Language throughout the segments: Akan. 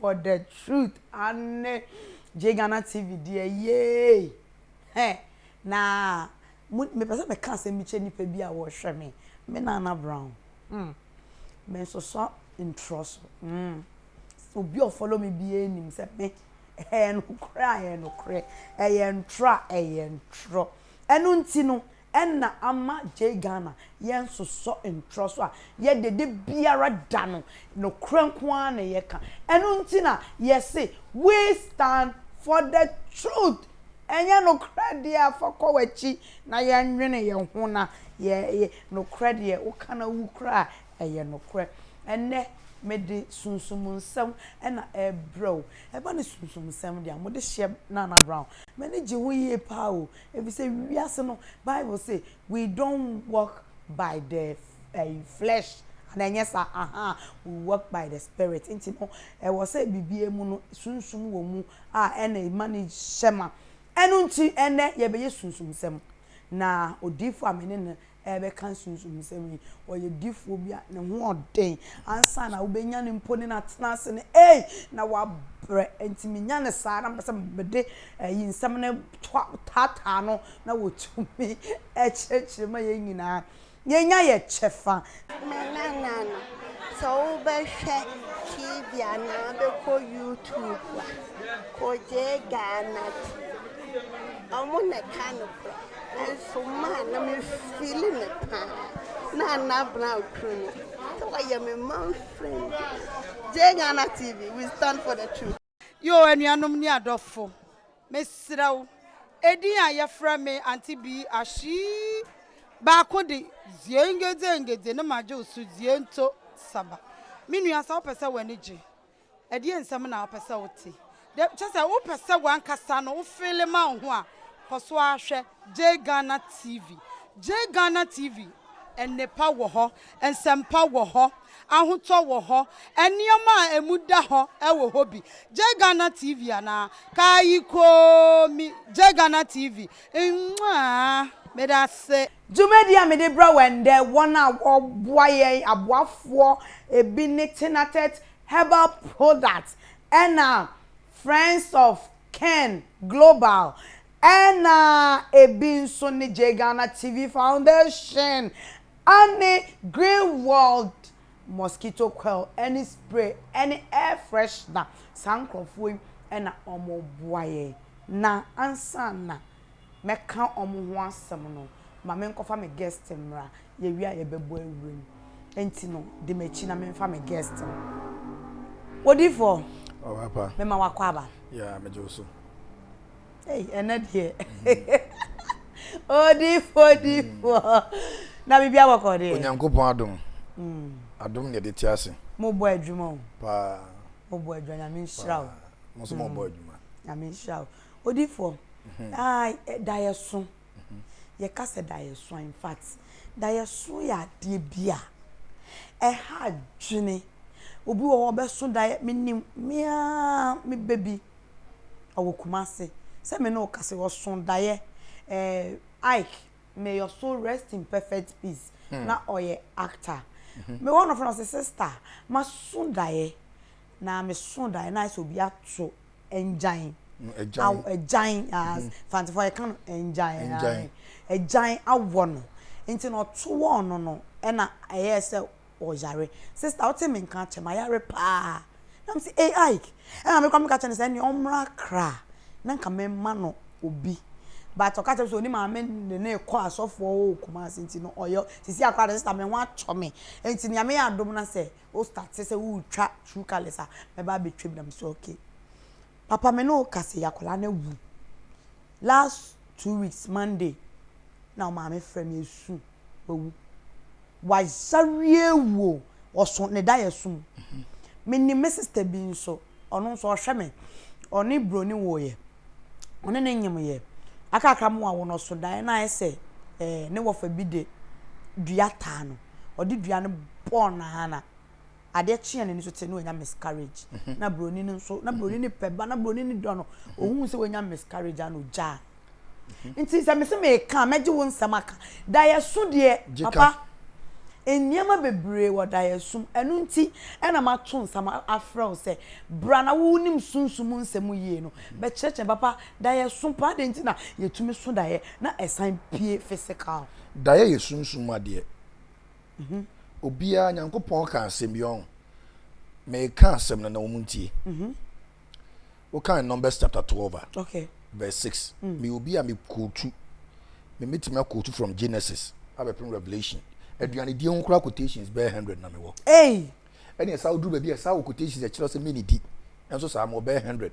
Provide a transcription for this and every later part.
For the truth ane Jghana TV deɛ yeey hɛ na mo mepɛ sɛ meka asɛm bi kyɛ nipa bi a wɔhwɛ me me Nana Brown hmm me nsosɔ ntorɔ so hmm obi a ɔfollow me biara nim sɛ me ɛyɛ nokorɛ a ɛyɛ nokorɛ ɛyɛ ntorɔ a ɛyɛ ntorɔ ɛno nti no na ama Jay Ghana yɛnsosɔ ntorɔ so a yɛde de biara da no nokorɛ nko ara na yɛka ɛno nti na yɛse we stand for the truth ɛnyɛ nokorɛ deɛ a fa kɔ wakyi na yɛnwene yɛn ho na yɛ nokorɛ deɛ woka na wu koraa a ɛyɛ nokorɛ ɛnɛ mede sunsum nsɛm na ɛbrɛ o ɛba ne sunsum nsɛm deɛ a mode hyɛ Nana Brown m'ani gye ho yie paa o Efisɛ wiase no, Bible se, We don't walk by the flesh, anaa ɛnyɛ saa? Ahaa, we walk by the Spirit. Enti no, ɛwɔ sɛ biribiara mu no, Sunsum wɔ mu a ɛna ɛma no hyɛ ma. Ɛno nti, ɛnnɛ yɛbɛyɛ sunsumsɛm. Na odiyifo a me ne no rebɛka sunsumsɛm yi. Ɔyɛ difoɔ bi a ne ho yɛ den. Ansa na wobɛnya no mpo ne no atena ase no, ei, na wabrɛ. Enti menya no saa na mepɛ sɛ mede ayi nsɛm no toa taataa no na wɔtumi kyerɛkyerɛ ma yɛn nyinaa yɛnya yɛn kyɛfa. Manana no, sɛ wobɛhwɛ TV anaa bɛkɔ YouTube a, Kojee Ghana TV, wɔn na ɛka nokorɛ. Nanso maa na me feeli no paa na na bena okunu no sɛ wayɛ me man friend Jay Ghana TV we stand for the truth. Yoo anuanom ne adɔfo mesrɛ wo edin a yɛfrɛ me Auntie Bee Ashie baako de Ziengedzengedze no magye wo so Ziento Saba me nua sɛ wopɛ sɛ w'ani gye Ɛdeɛ nsɛm na wopɛ sɛ wote? Dɛ kyerɛ sɛ wopɛ sɛ wankasa no wo feele ma wo ho a, kɔ so ara hwɛ Jay Ghana TV. Jay Ghana TV, nnepa wɔ hɔ, nsɛmpa wɔ hɔ, ahotɔ wɔ hɔ, nneɛma a ɛmu da hɔ wɔ hɔ bi. Jay Ghana TV anaa? Kaayikoomi Jay Ghana TV. Mmuaa! Meda ase. Dwumadi a mede brɛ wo ɛndɛ, wɔn a wɔboa yɛn aboafoɔ ebi ne Tinatet Herbal Products ɛna Friends of Ken Global ɛna ebi nso ne JGhana TV Foundation ɛne Green World Mosquito Coil ɛne Spray ɛne Air Freshener saa nkorɔfoɔ yi ɛna wɔn boa yɛn na ansa na mɛka wɔn ho asɛm no, ma menkɔfa me guest mmra, yɛwie a yɛbɛbɔ awura mu. Enti no, di m'akyi na memfa me guest no. Odiyifoɔ, mema wakɔ aba. Yeah, megye wo so. Hey, ɛnɛ deɛ. Odiyifoɔ, odiyifoɔ. Na biribi abɔkɔ deɛ. Onyankopɔn adom. Mm. Adom na yɛde te ase. Mobɔ adwuma o. Paa. Mobɔ adwuma, nyame nhyira o. Mo nso mobɔ adwuma. Nyame nhyira o. Odifoɔ, aah daeɛso, yɛka sɛ daeɛso a, in fact, daeɛso yɛ adeɛ bi a ɛha adwene. Obi wɔ hɔ a ɔbɛso daeɛ, menim, me ara me ba bi, ɔwɔ Kumasi, sɛ me ne wo kasa yi, ɔso daeɛ, ɛɛ Ike, may your soul rest in perfect peace, na ɔyɛ actor. Mewɔ no, ɔfrɛ me, ɔse, sister, maso daeɛ, na meso daeɛ na ayɛ sɛ obi ato. Agyan. Agyan. Agyan. Mm-hmm. Fantefo yɛ kan agyan. Agyan. Agyan awɔ no. Nti na ɔto wɔn no no ɛna ɛyɛ sɛ ɔyare. Sista wote me nka kyɛ ma yare paa. Na me se ei Ike. Ɛna me kɔ me ka kyɛ ne sɛ ne ɔmra kra na nka me ma no obi. But ɔka kyɛ sɛ oni maame ne ne kɔ asɔfoɔ o kumase nti no ɔyɛ sisi akora de sista me ho atɔ me. Nti nea me yɛ adom na sɛ wo starte sɛ woretwa true colours a, mɛba abɛtwa bi. Na me sɛ okay. Papa me ne wo kasa yi akwadaa no awu. Last two weeks Monday na wo maame frɛ me esu wawu. Wayareɛ awu o, ɔso ne daeɛso mu. Menim me sister bi nso. Ɔno nso ɔhwɛ me. Ɔne buroni woeɛ. Ɔne no nyemeeɛ. Akakra mu a wɔn ɔso daeɛ na ayɛ sɛ eh, ne wɔfa bi de dua taa no. Ɔde dua no bɔɔ n'ana. Adeɛ kyeeɛ n'ani so tee na wanya miscarriage. Na buroni no nso, na buroni no pɛ ba, na buroni no dɔ no. Ɔhuu sɛ wanya miscarriage ara na ɔgyaa. nti sɛ mese meka a mɛgye wo nsɛm aka daeɛso deɛ papa nneɛma bebree wɔ daeɛsom ɛno nti ɛna mato nsɛm afrɛ wo sɛ bra na wonim sunsum mu nsɛm yie no bɛkyerɛkyerɛ papa daeɛso paa deɛ nti na yɛtumi so daeɛ na ɛsan pie physical daeɛ yɛ sunsum mu adeɛ mhm. obiara nyankopɔn ka asɛm bi ɔn meka asɛm no na wɔn ntie mhm. wokan numbers chapter twelve a verse six hmm. meyɛ obi a mekootu memetumi akootu from genesis abɛpem revelation aduanedie ho koraa quotations bɛyɛ hundred na mewɔ ɛne ɛsa woduru baabi a ɛsa wɔ quotations ɛkyerɛ sɛ menedi ɛnso saa mewɔ bɛyɛ hundred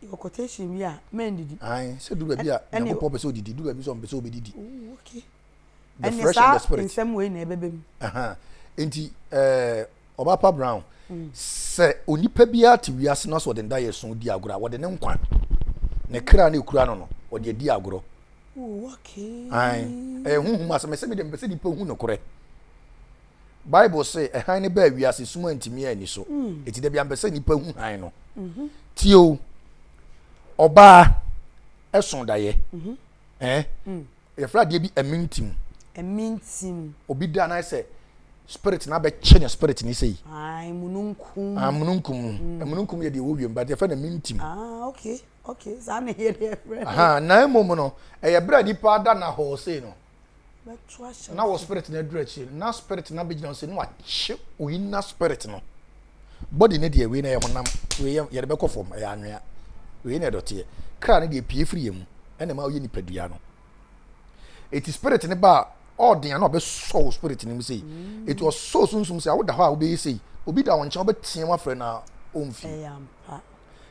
yɛ quotation bi a mɛndidi sɛ duru baabi a nyankopɔn pɛ sɛ ɔdidi duru baabi sɛ ɔmpɛ sɛ ɔbɛdidi The Ɛne Fresh and the saa Spirit. nsɛm wei na ɛbɛba mu. Aha. Nti eh, Ɔbaapa Brown, sɛ onipa biara te wiase na sɛ ɔde ndaeɛso di agorɔ a, wɔde ne nkwa, ne kra na ɛkura no no, ɔde adi agorɔ. Oh, okay. Ae. Ɛyɛ honhom asɛm. Ɛsɛ mede mpɛ sɛ nipa hu nokorɛ. Bible se ɛhan no baa wiase sum antumi anni so. Eti da bia mpɛ sɛ nipa hu han no. Tie o. Ɔbaa ɛso dayɛ. Eh? Yɛfrɛ adeɛ bi amintim. Amintim. Obi da na sɛ spirit na abɛkye ne spirit ne sei. Ayi mununkum. Ah mununkum. Mm. Mununkum yɛ deɛ ɛwɔ wiem but yɛfrɛ no amintim. Ah okay okay saa na yɛ deɛ yɛfrɛ. Aha na emom no ɛyɛ berɛ a nipa da na hɔ sei no. Bɛto ahyɛ. Na wɔ spirit na aduru akyi na spirit na bɛgyina sɛ na wakye oyi na spirit no. Body ne deɛ wei na ɛyɛ honam, wei yɛ yɛde bɛkɔ fam, ɛyɛ anwea, wei na ɛdɔteɛ. Kra ne deɛ pie firi yɛn mu, ɛna ɛma ɔyɛ nipadua no. Eti spirit ne ba a ɔɔden a na ɔbɛsɔ wo spirit ne mu sei. Mm. Eti ɔsɔ sunsum sei a woda hɔ a wobɛyɛ sei. Obi da wo nkyɛn wobɛteɛ mu afrɛ na ɔmfi.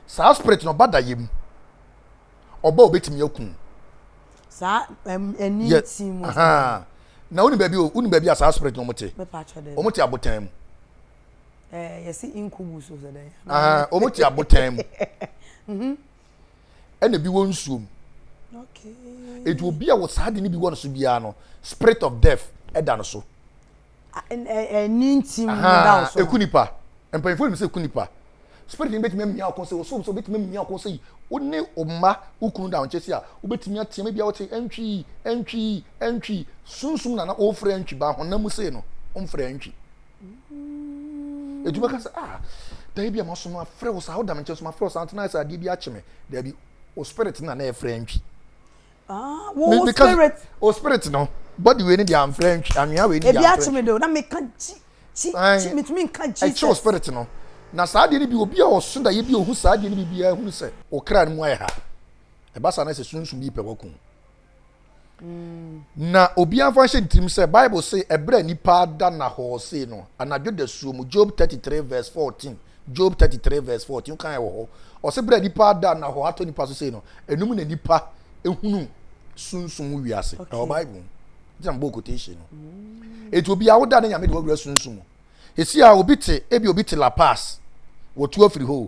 Saa spirit no ɔba da yɛ mu. Ɔba obɛtumi akum. Saa ɛni nti mu. Na woni baabi o, woni baabi a saa spirit no ɔmo te. Ɔmo te abotan mu. ɛɛ yɛsi nkubu so sɛ dɛn. Ah, wɔn ti abotan mu. Mhm. Ɛna ebi wɔ nsuom. Okay. Eti obi a wɔ saa de ne bi wɔ ne so biara no, spirit of death ɛda no so. Ɛni nti mu da so. Eku nipa. Mpanyinfoɔ nim sɛ eku nipa. Spirit ni betumi amia ɔkɔn sɛ wɔsɔ sɛ betumi amia ɔkɔn sɛ yi wo ne ɔma okunu da ɔnkyɛ si a wobetumi ateɛ ebi a wɔte ɛntwi ɛntwi ɛntwi sunsun na na ɔfrɛ ɛntwi ba honam mu sei no ɔmfrɛ ɛntwi. ɛtu bɛka sɛ ah dae bi a maso no afrɛ wo saa woda me nkyɛn so mafrɛ wo saa ntena sɛ adeɛ bi akye me daabi o spirit na na ɛfrɛ ntwi ah, wo spirit o spirit no body wei ne deɛ amfrɛ ntwi anwea wei ne deɛ amfrɛ ntwi ebi akye me de na meka gyi gyi gyi metumi nka gyi ɛkyɛ o spirit no na saa adeɛ no bi obi a ɔso da yɛ bi ohu saa adeɛ no bi biara hunu sɛ okra no mu ayɛ ha ɛba saa na sɛ sunsun bi pɛ wakum na obiara mfa nhyɛ ne tirim sɛ bible se ɛberɛ a nipa ada na hɔɔ sei no anadwo da suo mu job 33 verse 14 job 33 verse 14 wokan ɛwɔ hɔ ɔse berɛ a nipa ada na hɔ atɔ nipa so sei no ɛnum na nipa ehunu sunsum mu wiase ɛwɔ bible gyina mbɔ quotation no eti obi a woda ne nyame de wɔwura sunsum mu esi a obi te ebi obi te la pass wɔtu afiri hɔ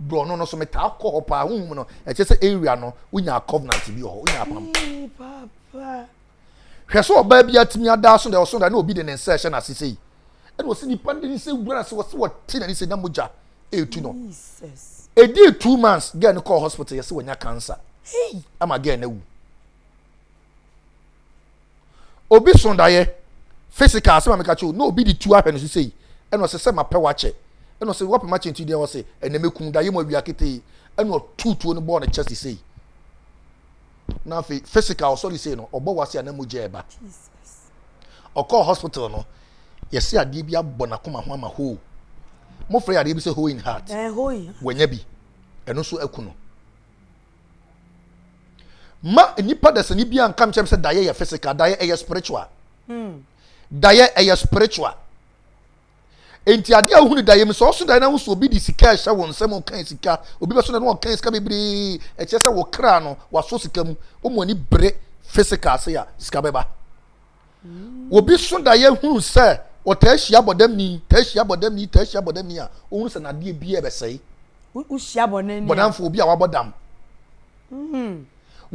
borɔno no so metaa kɔ hɔ paa honhom no ɛkyɛ sɛ area no wonyaa covenant bi wɔ hɔ wonyaa pam hwɛ sɛ ɔbaa bi atumi adaa so dɛ ɔso da na obi de ne nsa ɛhyɛ n'ase sei ɛna ɔsi nipa de ne nsa wura ase wɔsi wɔte n'ani sɛ na mogya etu no edi two months girl no kɔɔ hospital yɛsi wɔnya cancer ama girl no awu. obi so daeɛ physical asɛm a meka kyerɛ o na obi de tu ahwɛ ne so sei ɛna ɔsɛ sɛ mapɛ wakyɛ ɛna ɔsɛ wapɛ makyɛ nti deɛ ɔsɛ ɛna mɛkum daeɛ mu awia ketee ɛna ɔtu tuo no bɔɔ ne kyɛ sesei na afei physical ɔsɔre sei no ɔbɔ wase a na mu gya ɛba ɔkɔɔ hospital no yɛse adeɛ bi abɔ n'akoma ho ama hoo mofrɛ yɛ adeɛ bi sɛ hoe in heart eh, wɔanya bi ɛno nso aku no Ma nnipa dasani biara nka nkyɛn sɛ daeɛ yɛ physical, daeɛ ɛyɛ spiritual. Hmm. Daeɛ ɛyɛ spiritual. Enti adeɛ a wohunu daeɛ mu sɛ ɔso daeɛ no ahosuo obi de sika ɛhyɛ wɔn nsam ɔkan sika obi bɛso na no ɔkan sika bebree ɛkyɛ sɛ wɔkra no waso sika mu wɔn ani bere physical ase a sika bɛba. obi so daeɛ hunu sɛ ɔtaa hyia bɔdamni taa hyia bɔdamni taa hyia bɔdamni a ɔhunu sɛ n'adeɛ biara bɛsɛe wohyia bɔdamni bɔdamfo obi a wabɔ dam hmm.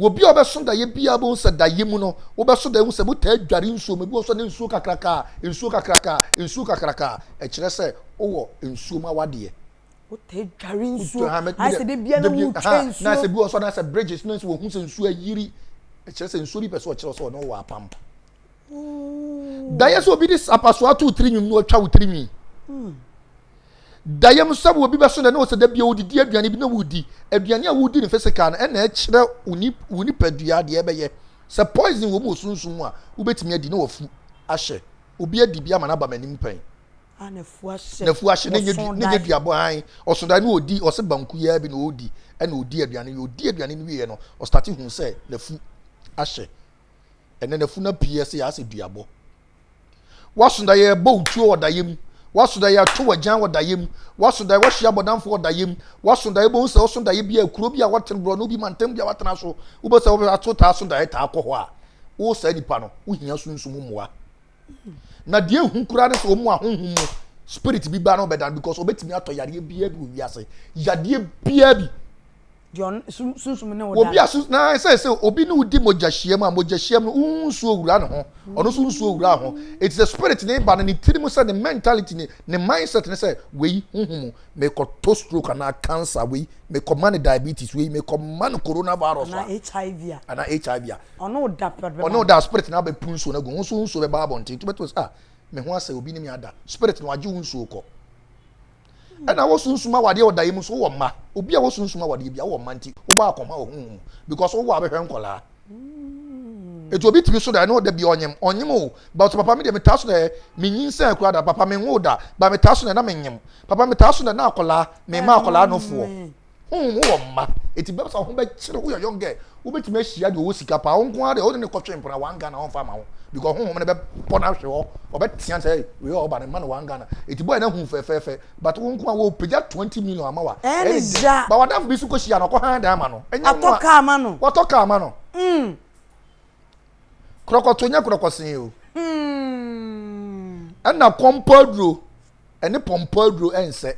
obi a ɔbɛso daeɛ biara bɛhu sɛ daeɛ mu no wobɛso daeɛ hu sɛ motaa dware nsuo mu ebi wɔ so ne nsuo kakraka nsuo kakraka nsuo kakraka ɛkyerɛ sɛ wowɔ nsuo mu awadeɛ wotɛ dware nsuo ayɛ sɛ de bia na wotwa nsuo na sɛ bi wɔ so na sɛ bridges na sɛ wɔhu sɛ nsuo ayiri ɛkyerɛ sɛ nsuo bi pɛ sɛ ɔkyerɛ sɛ ɔne wɔ apam dayɛ sɛ obi de apaso ato wo tirinwi mu na ɔtwa wo tirinwi hmm. dayɛ mu sɛ obi bɛso dɛ na ɔsɛ da bia wodidi aduane bi na wodi aduane a wodi no physical no ɛna ɛkyerɛ wo nipadua deɛ ɛbɛyɛ sɛ poison wɔ mu wɔ sunsum mu a wobɛtumi adi na wafu ahyɛ obi adi bi ama no aba m'anim pɛn N'afua hye ne nyɛ duabɔ han ɔso dae ne ɔdi ɔse banku yi ara bi na ɔdi ɛna ɔdi aduane yi ɔdi aduane no wieɛ no ɔstate hu sɛ n'afu ahyɛ ɛnɛ n'afu no apue ɛsɛ yɛasɛ duabɔ waso dae ɛbɔ otuo wɔ daeɛ mu waso dae ato wagyan wɔ daeɛ mu waso dae wahye abɔdamfo wɔ daeɛ mu waso dae bɛhu sɛ ɔso daeɛ bi a kuro bi a wɔtene borɔ no bi mantam bi a wɔatena so wobɛ sɛ wɔbɛ ato taa so dae taa kɔ hɔ a wo saa nipa no wohia sunsum mmoa na deɛ ehu koraa ne sɛ wɔn a honhom mu spirit bi ba no bɛda no because obetumi atɔ yadeɛ biara bi wɔ wiase yadeɛ biara bi obi a sun na sɛ sɛ obi ne wodi mogya hyiam a mogya hyiam no wohu nsuo wura ne ho ɔno nso nsuo wura ho eti sɛ spirit ne ba no ne tiri mu sɛ ne mentality ne ne mindset ne sɛ wei honhom mu mekɔtɔ stroke anaa cancer wei mekɔma no diabetes wei mekɔma no coronavirus a anaa hiv a Ɔne wo da pɛrɛ bɛba. Ɔne wo da a spirit no abɛpu nsuo no agu wo nso wo nsuo bɛba abɔnten nti wobɛto sɛ ah me ho asɛ obi ne me ada spirit no agye wo nsuo kɔ ɛna wo sunsum awadeɛ ɔda yi mu nso wowɔ mma obi a wo sunsum awadeɛ bia wowɔ mma nti wobɔ akɔma wɔ honhom mu because wowɔ abɛhwɛ nkɔlaa ɛti obi tumi so da ɛne ɔda bia ɔnyem ɔnyem o but papa me deɛ metaa so dɛ menyin sɛ akura da papa menwo da ba metaa so dɛ na menyem papa metaa so dɛ na akɔlaa mema akɔlaa nofoɔ Honhom wowɔ mma, enti bɛbɛ sɛ ho bɛkyere woyɛ young girl, wobɛtumi ahyia deɛ ɔwɔ sika paa, wo nko ara deɛ wode ne kɔtwe mpena one Ghana ɔmfa ma wo because honhom no bɛbɔ no ahwe hɔ, ɔbɛtea sɛ wei a ɔba no mma no one Ghana, enti boy no ahu fɛfɛɛfɛ but wo nko ara wɔpagya 20 million ama wo a ɛyɛ ne dɛ, but w'adamfo bi nso kɔhyia no ɔkɔhan dan ma no, ɛnyɛ nwa, watɔ kaa ma no, krɔkɔtoo nyɛ krɔkɔsee o, ɛna kɔmpɔ aduro. ɛne pɔmpɔ aduro ɛnsɛ.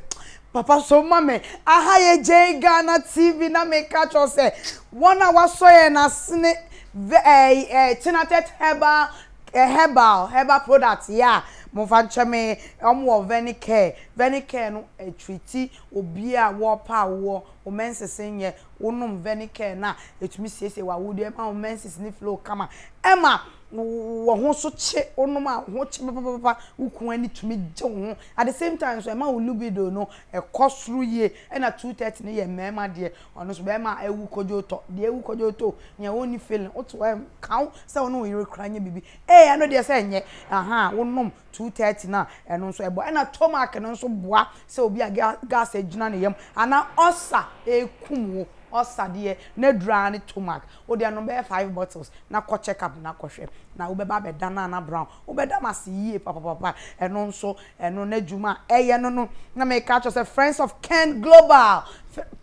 Papa so ma me aha yɛ gyai Ghana TV na me ka kyerɛ wo sɛ wɔn a wasɔ yɛn asene vɛ ɛɛ ɛɛ Chinatect herbal ɛɛ herbal herbal product yɛ a mo nfa nkyɛ me wɔn wɔ Venicare Venicare no ɛtreati obia a wɔ pɛ a wɔ wo menses nyɛ wo nom Venicare no a ɛtumi siesie w'awodeɛ ɛma wo menses no flow kama ɛma Wo ho nso kye wonom a, wo ho kye papapapa, wo kunu ani tumi gye wo ho. At the same time nso, ɛma wo libido no kɔ soro yie. Ɛna two thirty no yɛ mmarima deɛ, ɔno nso barima a awu kodwootɔ, deɛ awu kodwootɔ o, nea ɔnni feeling, wote hɔ a ɛnka wo sɛ wo ne wo yere kora nyɛ biribi. Ee, ɛno deɛ sɛ ɛnyɛ, ahaa, wonom two thirty no a, ɛno nso ɛboa. Ɛna tomac no nso boa sɛ obi a gas agyina ne yam anaa ulcer rekum wo, ulcer deɛ n'aduru ara ne tomac. Wode anom bɛyɛ five bottles na kɔ check up na kɔ hwɛ na wobɛba abɛda no a na brown wobɛda m'ase yie papapapa ɛno nso ɛno n'adwuma a ɛyɛ no no na meka akyerɛ wo sɛ friends of ken global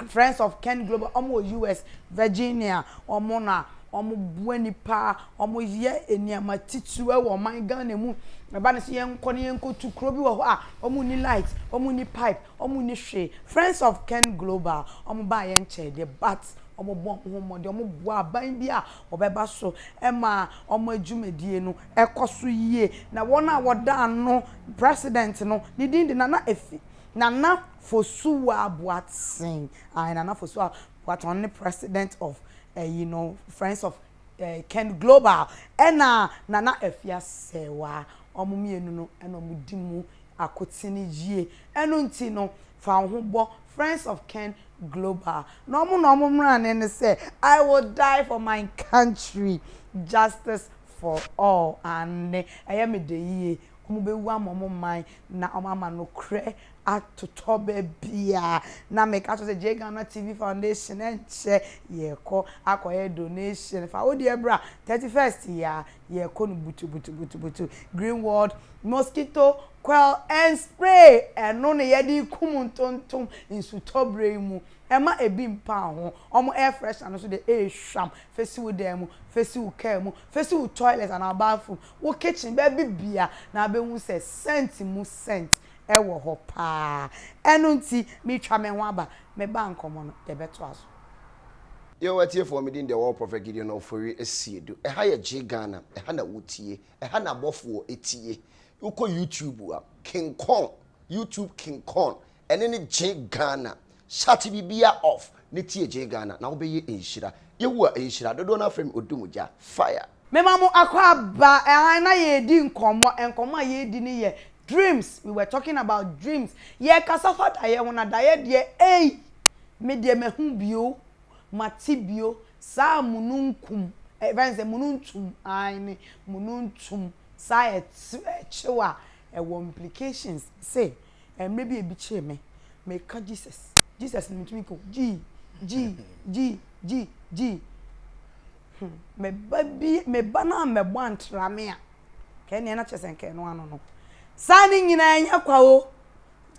friends of ken global wɔn wɔ US Virginia wɔn na wɔn boa nipa wɔn yɛ nneɛma titiriw ɛwɔ ɔman Ghana mu ɛba ne sɛ yɛnkɔ ne yɛnkɔ tu kuro bi wɔ hɔ a wɔn ni light wɔn ni pipe Ɔmo nni hwee. Friends of Ken Global, ɔmo baa yɛn nkyɛn deɛ but ɔmo bɔ ɔmo ho mmɔden, ɔmo boa aban bi a ɔbɛba so ma ɔmo adwumadie no kɔ so yie. Na wɔn a wɔda ano President no, ne din de Nana Efi, Nana Fosuwa Boateng, ae Nana Fosuwa Boateng, ɔno ne President of ɛyi no, Friends of Ken Global, ɛna Nana Efi Asɛwa, ɔmo mmienu no na ɔmo di mu akoten yie. Ɛno nti no, fa wo ho bɔ Friends of Ken Global na wɔn na wɔn mmarane ne sɛ, I will die for my country, justice for all, aane, ɛyɛ me dɛ yie, wɔbɛwu ama wɔn man na wɔama nokorɛ atotɔ baabiara. Na meka kyerɛ wo sɛ gye Ghana TV Foundation nkyɛ, yɛrekɔ akɔyɛ donation, fa wo deɛ bra, 31st yi ara yɛkɔ no butubutubutubutu, Greenwald mosquito coil and spray, ɛno na yɛde kum ntontom nsutɔ berɛ yi mu, ɛma ɛbi mpa ho, wɔn air freshener no nso deɛ ɛyɛ hwam, fa si wo dan mu, fa si wo car mu, fa si wo toilet anaa bathroom, wo kitchen, baabi biara na wobɛhu sɛ scent mu scent wɔ hɔ paa. Ɛno nti meretwa me ho aba, me ba nkɔmmɔ no yɛbɛtoa so. Yɛwɔ atiefoɔ medin deɛ wɔwɔ Prophet Gideon Ofori Asiedu ɛha yɛ gye Ghana ɛha na wotie ɛha na abɔfoɔ ɛtie wokɔ YouTube a King Kong YouTube King Kong ɛne ne gye Ghana shut bibia off ne tie gye Ghana na wobɛyɛ nhyira Yehowa nhyira dodoɔ no afrɛ me Odumgya fire Mema mo akwaaba ɛhan na yɛredi nkɔmmɔ, nkɔmmɔ a yɛredi no yɛ dreams, we were talking about dreams, yɛrekasa fa daeɛ ho na daeɛ deɛ ei! Me deɛ mahu bio, mate bio, saa mununkum, yɛfrɛ no sɛ mununtum, aane, mununtum, saa ɛkyew a ɛwɔ implications, mese mmerɛ bi ebi kyee me, meka Jesus, Jesus na metumi ka o, Jii, Jii, Jii, Jii, Jii. Hmm, me ba bi, me ba no ammɛbɔ antra me a, nka ɛneɛ na kyerɛ sɛ nka ɛno ano no. Saa ne nyinaa ɛnyɛ kwa o.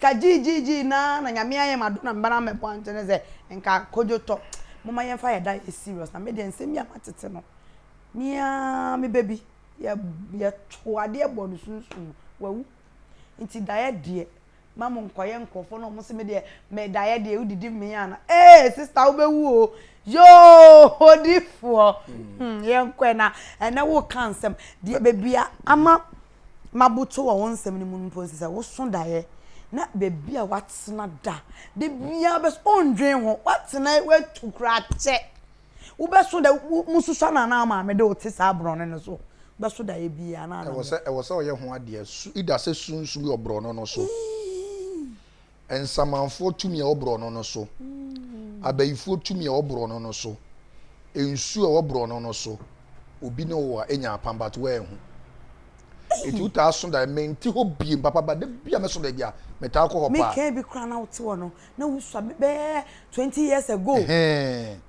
Ka gyiigyiigyii na na nyame ayɛ ma do na me ba no ammɛbɔ antra ne sɛ nka kodwo tɔ. Moma yɛmfa yɛ da yɛ serious na me deɛ nsɛm bi a matete no, me ara me ba bi, yɛ, yɛtoo adeɛ bɔɔ no sunsum mu, wawu. Nti daeɛ deɛ. ma mo nkɔyɛ nkorɔfoɔ na ɔmo se me deɛ me daeɛ deɛ wodidi mee ana ee sister wobɛwu o yoo odifoɔ hmm yɛnkɔɛ na ɛnɛ woka nsɛm deɛ bebia ama maboto wɔ wo nsɛm no mu mpo nsɛ sɛ woso daeɛ na bebia watena da da biara bɛso ondwen ho watena watu koraa kyɛ Wobɛso da mususa no anaa maame de wote saa borɔno no so bɛso daeɛ biaa anaa anadwo. Ɛwɔ sɛ ɛwɔ sɛ ɔyɛ ho adeɛ su ida sɛ su nsu wɔ borɔno no so nsamanfoɔ tumi ɛwɔ borɔno no so abayifoɔ tumi ɛwɔ borɔno no so nsu ɛwɔ borɔno no so obi ne wo a ɛnya apam but woanhu ɛti wotaa so daeɛ menti hɔ biem papa ba da bi a mɛso daeɛ bi a metaa kɔ hɔ paa mekɛɛ bi koraa na wote hɔ no na wo sua me bɛyɛ twenty years ago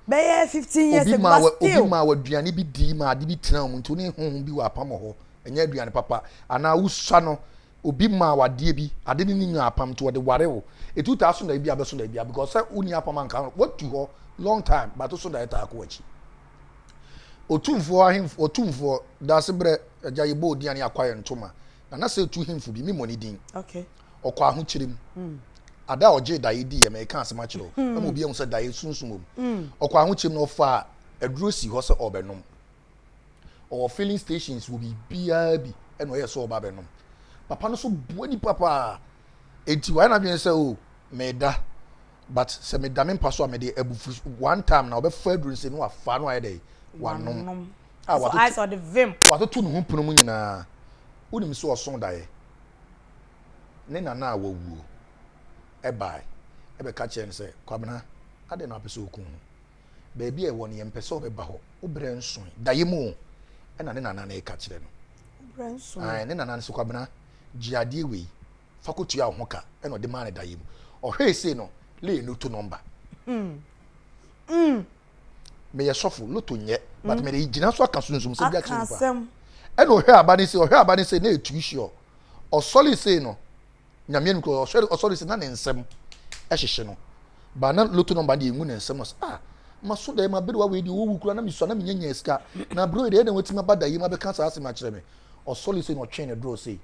bɛyɛ fifteen years ago but still. obi maa w'aduane bi dii ma ade bi tena mu nti ne honhom bi wɔ apam hɔ ɛnyɛ aduane papa anaa wosua no obi maa wadeɛ bi ade ne ne nyaa apam nti wɔde ware wo etu taa so na ebi abɛso na ebi because sɛ wonni apam anka watu hɔ long time but so na ɛtaa kɔ w'akyi otumfoɔ ahemfo otumfoɔ daase brɛ agya yɛbɔ odiane akwa yɛ ntoma na na sɛ etu hemfo bi, memmɔ ne din. Ɔkɔ ahokyere mu. Hmm. Ada a ɔgyee daeɛ di yɛ mɛka asɛm akyerɛ o hmm. ama obi ahu sɛ daeɛ sunsum wɔ mu. Hmm. Ɔkɔ ahokyere mu na ɔfaa aduro si hɔ sɛ ɔbɛnom. Ɔwɔ filling stations wɔ biribiara bi ɛna ɔyɛ sɛ ɔba bɛnom. Papa no so bua nipa paa. Eti wayɛ n'adwene sɛ o oh, meda but sɛ meda me mpa so a mede abufu one time na ɔbɛfa aduro nsɛm no afa no ayɛ dɛ wanom. a watoto ne ho pono mu nyinaa, wonim sɛ ɔsõ daeɛ, ne nana a wawuo ɛbae ɛbɛka kyerɛ no sɛ Kwabena adɛn na wapɛ sɛ ɔku ho baabi a ɛwɔ no yɛmpɛ sɛ ɔbɛba hɔ wobrɛ nso daeɛ mu o ɛna ne nana no ɛka kyerɛ no ne nana no sɛ Kwabena gye adeɛ wei fa kɔtua wo ho ka ɛna ɔde maa no daeɛ mu ɔhwɛe sei no lee no to nɔmba hmm. hmm. meyɛ sɔfo loto nyɛ but hmm. mede gyina so aka sunsum sɛ bi akyerɛ nipa ɛna ɔhwɛ aba ne se ɔhwɛ aba ne se na ɛtui hyeɔ ɔsɔre sei no nyameɛ no kura ɔhwɛ ɔsɔre sei na ne nsɛm ɛhyehye no ba na loto nɔmba deɛ ɛngu ne nsɛm no sɛ ah maso dɛ mabere wa wei deɛ ɔwɔwu kura na mesua na menya nya sika na berɛ yi deɛ ɛna watumi aba da yi ma bɛka saa asɛm akyerɛ me ɔsɔre sei na ɔtwe ne dorɔ sei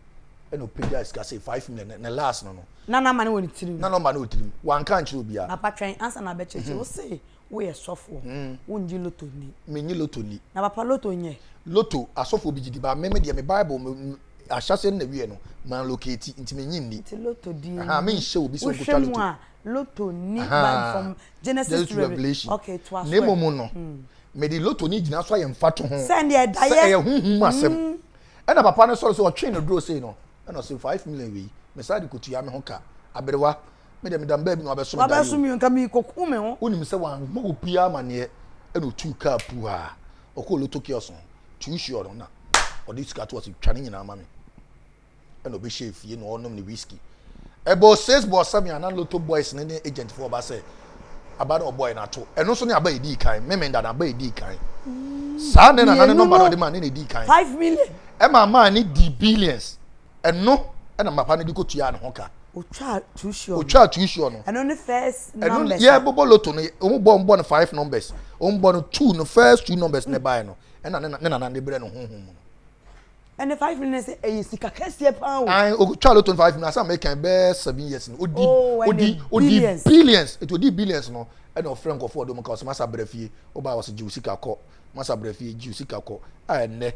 ɛna ɔpɛgya sika sei five million ne last no no na na ma ne wɔ ne tirim na na ɔma ne wɔ tirim wanka nkyerɛ obiara na patwɛn ansa na abɛkyerɛkyerɛ wo se Woyɛ sɔfoɔ, wongye lotto nni. Mennye lotto nni. Na papa lotto nyɛ? Lotto, asɔfoɔ bi gye di, but me me deɛ me Bible me ahyɛaseɛ no na ɛwieɛ no, ma locate, nti mennye nni. Nti lotto die nni. Ahaa, menhyɛ obi sɛ ɔnkɔtwa lotto. Wohwɛ mu a, lotto nni Bible fam, Genesis to Revelation. Okay, toa so ɛ. Na mmom no, mede lotto no gyina so ayɛ mfatoho sɛ ɛyɛ honhom asɛm. Ɛna papa no sɔre sɛ ɔtwee no duro sei no, ɛna ɔse five million wei, mesan de kɔtua me ho ka, aberewa. me deɛ meda mbaa bi na wabɛso me daeɛ wabɛso me nka meekɔku me ho wonim sɛ wammɔ obiara amaneɛ ɛna ɔtuu kaa puu a ɔkɔɔ loto kios no tuusi ɔno na ɔde sika to ɔse twa ne nyinaa ma me ɛna ɔbɛhyɛ fie na ɔnom ne whisky ɛbɔ six bɔ seven ana loto boys ne ne agent foɔ ɔba sɛ aba na ɔbɔ ɛna ato ɛno nso ne aba ɛdii kan meme nda na aba ɛdii kan saa ne na nane nɔmba na ɔde ma ne na ɛdii kan five million ɛma maa ne di billions Ɛno na mapa no de kɔtuaa ne ho ka. Ɔtwaa tuusuɔ no. Ɔtwaa tuusuɔ no. Ɛno ne first numbers. Ɛno yɛbobɔ loto no wɔn bɔ wɔn bɔ no five numbers wɔn bɔ no two no first two numbers ne baeɛ no ɛna ne ne nana ne brɛ no honhom mu no. Ɛne five no sɛ ɛyɛ sika kɛseɛ paa o. Ayi ɔtwaa loto no five no asan mɛ kan bɛɛ seven years no ɔdi oh, ɔdi ɔdi billions etu ɔdi billions no ɛna ɔfrɛ nkɔfoɔ ɔdɔm ka ɔsɛ masa brɛ fie ɔbaa ɔsɛ gye osika kɔ. masa bra fie gye sika kɔ a ɛnɛ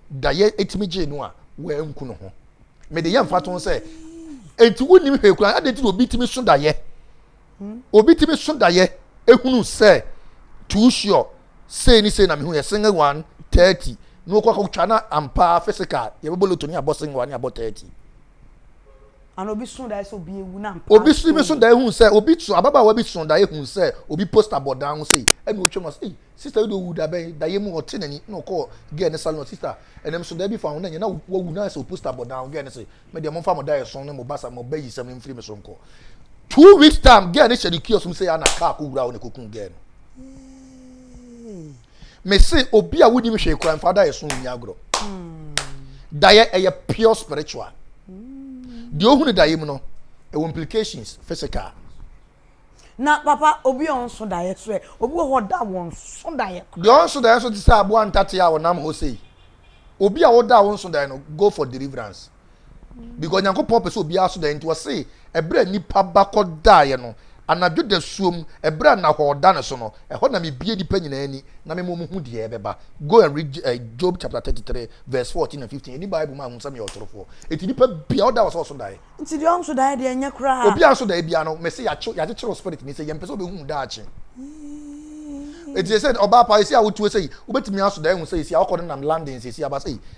da yɛ etimi gye no a wɔanku no ho mede yɛ mfa to sɛ enti wonim hwee koraa ade ti obi timi so dayɛ hmm? obi timi so dayɛ ehunu sɛ too sure sei ne sei na mehu yɛ single one thirty na okɔ akɔtwa na ampa physical yɛbɛbɔ lotoni abɔ single one abɔ thirty. Ana obi soo dae sɛ obi awu na mpa Obi so bi so dae hu sɛ obi so ababaawa bi so dae hu sɛ obi poster bɔ dan ho sei ɛna otwa mu ɔsɛ sister yi de owu da bɛn daeɛ mu ɔte n'ani na ɔkɔ girl ne salon sister ɛnam so dae bi fa ho na nyɛ na wawu na sɛ o poster bɔ dan ho girl ne se me deɛ momfa mo daeɛ so ne mo basa mo bɛ yi sɛm no mfiri me so nkɔ two weeks time girl ne hyɛ ne kiosk mu sɛ ana car kɔ wura hɔ na ɛkɔku girl no. me se obi a wonim hwee kora mfa daeɛ so nni agorɔ daeɛ ɛyɛ pure spiritual deɛ ohunu daeɛ mu no ɛwɔ implications physical na papa obi a ɔnso daeɛ so ɛ obi wɔ hɔ da wɔn so daeɛ kora deɛ ɔnso daeɛ so te sɛ aboa ntate a ɔnam hɔ sei obi a woda wo nso daeɛ no go for deliverance because nyankopɔn pɛ sɛ obiara so da nti ɔse ɛberɛ a nipa ba kɔ daeɛ no anadwo da suom ɛberɛ a nahɔɔ da no so no ɛhɔ na mebie nipa nyinaa ani na mema ɔmu hu deɛ ɛbɛba go and read uh, Job chapter 33 verse 14 and 15 ɛni Bible ma ahu sɛ meyɛ ɔtorofoɔ ɛti nipa bia ɔda wɔ sɛ ɔso daeɛ nti deɛ ɔnso daeɛ deɛ ɛnyɛ koraa obiara nso daeɛ biara no mese yɛakyekyere spirit ni sɛ yɛmpɛ sɛ ɔbɛhu daakye ɛti sɛ ɔbaa pa ɛsi a wotuo sɛ wobɛtumi aso daeɛ hu sɛ ɛsi a ɔkɔ no nam London sɛ ɛsi aba sɛ